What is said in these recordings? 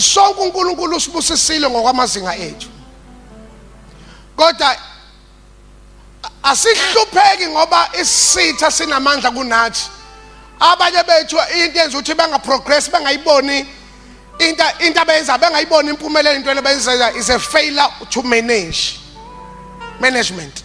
Sonke uNkulunkulu usibusisile ngokwamazinga ethu. Kodwa asihlupheki ngoba isitha sinamandla kunathi. Abanye bethu into yenza ukuthi bangaprogress bangayiboni into into abayenza bengayibona impumelelo into abayenzayo is a failure to manage management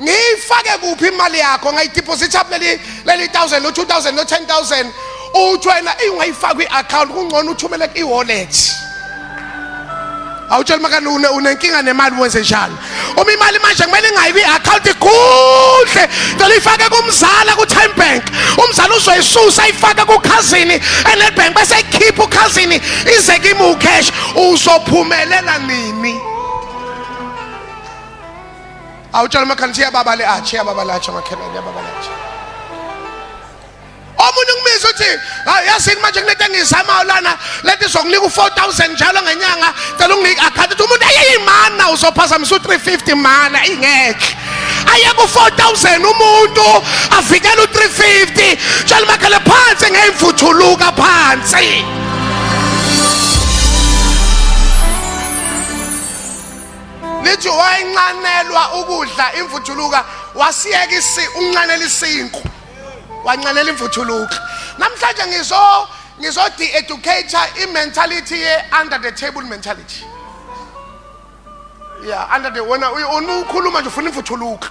ngiyifake kuphi imali yakho ngayidepositha kuleli leli 1000 lo 2000 lo 10000 uthi wena ingayifaka kwi-account kungcono uthumele i-wallet awutshela makani unenkinga nemali wenze njani uma imali manje kumele ingayi kwi-account ikuhle cela ifake kumzala ku-time bank umzala uzoyisusa ifake kukhazini enedbank bese ikhipha ukhazini ize kimi ucash uzophumelela nini awutshela umakhelwane ukuthi yababa le atshe yababa le atshe makhelwane yababa le atshe omunye ungibiza uthi hayi yasini manje kunento engiyizamayo lana lento izokunika u-four thousand njalo ngenyanga cela unginike akhathi ukuthi umuntu ayeyimana uzophazamisa u-three fifty mana ingekhe aye ku-four thousand umuntu avikele u-three fifty tshela umakhele phansi ngeyimfuthuluka phansi lithi wayenxanelwa ukudla imvuthuluka wasiyeka isi unxanela isinku wanxanela imvuthuluka namhlanje ngizo ngizo de-educate i-mentality ye-under the table mentality ya under the wena ukhuluma nje ufuna imvuthuluka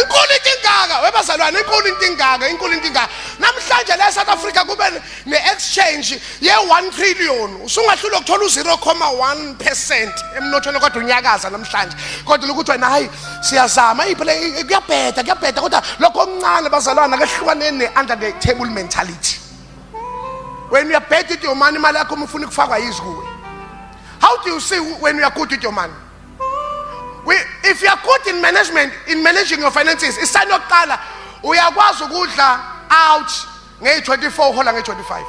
inkulu into ingaka webazalwane inkulu into ingaka inkulu into ingaka namhlanje la eSouth Africa kube ne-exchange ye-1 trillion usungahlula ukuthola u-0,1 percent emnothweni kodwa unyakaza namhlanje kodwa lokuthi wena hayi siyazama iphele kuyabheda kuyabheda kodwa lokho okuncane bazalwana kehlukaneni ne-under the table mentality wena uyabheda idiyomani imali yakho uma ufuna ukufakwa yizikuwe how do you see when uyakude idiyomani We, if you are good in management, in managing your finances, isani yokuqala uyakwazi ukudla out ngeyi-24 uhola ngeyi-25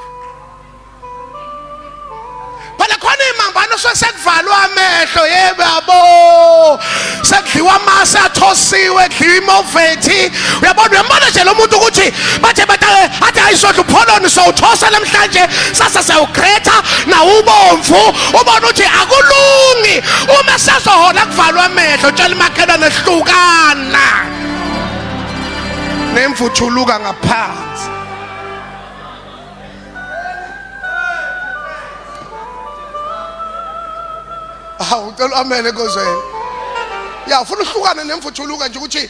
phela khona iy'mambano suke sekuvalwa amehlo yebo yabo sekudliwa amasi athosiwe kudliwa imovethi uyabona uyambona nje lo muntu ukuthi bathe batake athi hayi sodla upholoni sowuthosa namhlanje sasa siyawugretha nawubomvu ubona ukuthi akulungi uma sazohola kuvalwa amehlo tshela umakhelwane hlukana nemvuthuluka ngaphansi hawu ucela amene kozweni ya ufuna uhlukane nemvuthuluka nje ukuthi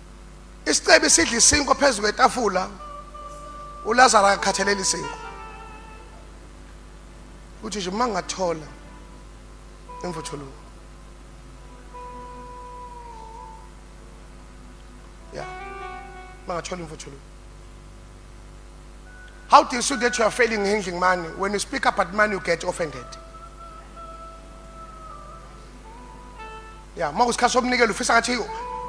isicebi sidla isinkwa phezu kwetafula ulazaro akakhathaleli isinkwa uthi nje uma ngathola imvuthuluko ya uma ngathola imvuthuluko how do you see that you are failing handling money when you speak about money you get offended ya uma kusikhathi somnikelo ufisa ngathi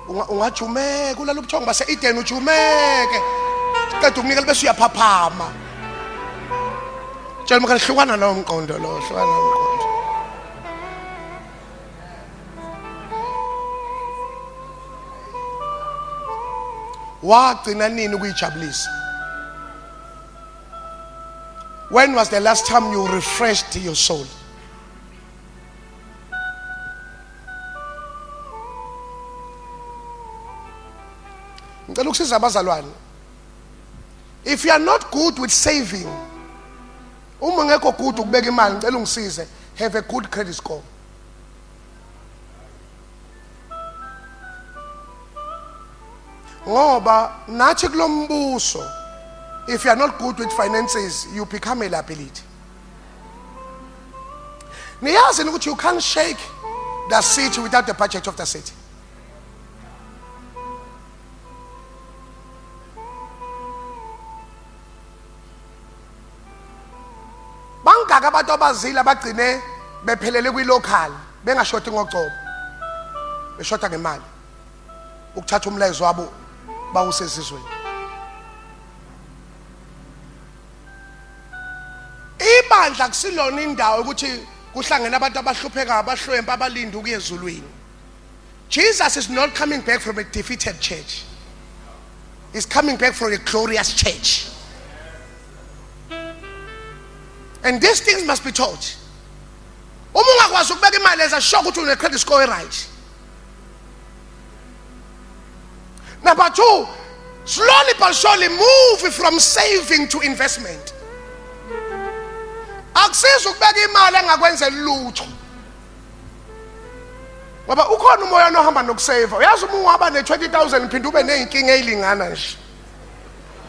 unga- ungajumeka ulala ubuthongo base-edeni ujumeke qeda ukunikela bese uyaphaphama tshela umkhani hlukana lowo mqondo lo hlukana lowo mqondo wagcina nini ukuyijabulisa when was the last time you refreshed your soul ngicela ukusiza abazalwane if you are not good with saving uma ngekho good ukubeka imali ngicela ungisize have a good credit score ngoba nathi kulombuso if you are not good with finances you become a liability niyazi ukuthi you can't shake the city without the budget of the city bangaka abantu abazile abagcine bephelele kwi-local bengashoti ngocobo beshota ngemali ukuthatha umlayezo wabo bawusezizweni Ibandla kusilona indawo ukuthi kuhlangene abantu abahlupheka abahlwempa abalinde ukuya ezulwini. Jesus is not coming back from a defeated church. He's coming back from a glorious church. And these things must be taught. Uma ungakwazi ukubeka imali eza shock ukuthi une credit score right. Number two, slowly but surely move from saving to investment. Akusiza ukubeka imali engakwenze lutho. Ngoba ukhona umoya nohamba nokusave. Uyazi uma uhamba ne 20000 phinde ube nezinkinga ezilingana nje.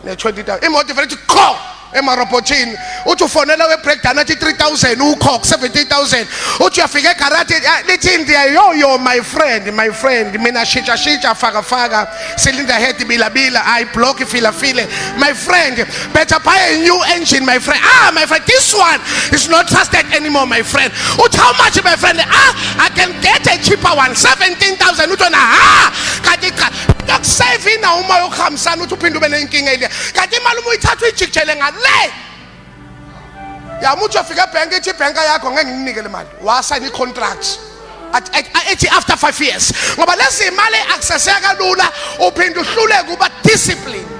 ne-20000 imoto ivele ithi qho emarobhothini uthi ufonela we-breakdown athi 3000 ukhok 17000 uthi uyafika egaraji ah, lithi indiya yoyo my friend my friend mina shitsha shitsha faka faka silinda head bilabila i block filafile my friend better buy a new engine my friend ah my friend this one is not trusted anymore my friend uthi how much my friend ah i can get a cheaper one 17000 uthi wena ha ah, kanti cha kusevina uma yokuhambisana uthi uphinde ube nenkinga eliya kanti imali uma uyithatha uyijikijele ngale yamuthi uyofika ebhenki ithi ibhenka yakho ngeke nginike le mali wasayina i-contract ethi after five years ngoba lezi imali akuseseka kalula uphinde uhluleke uba discipline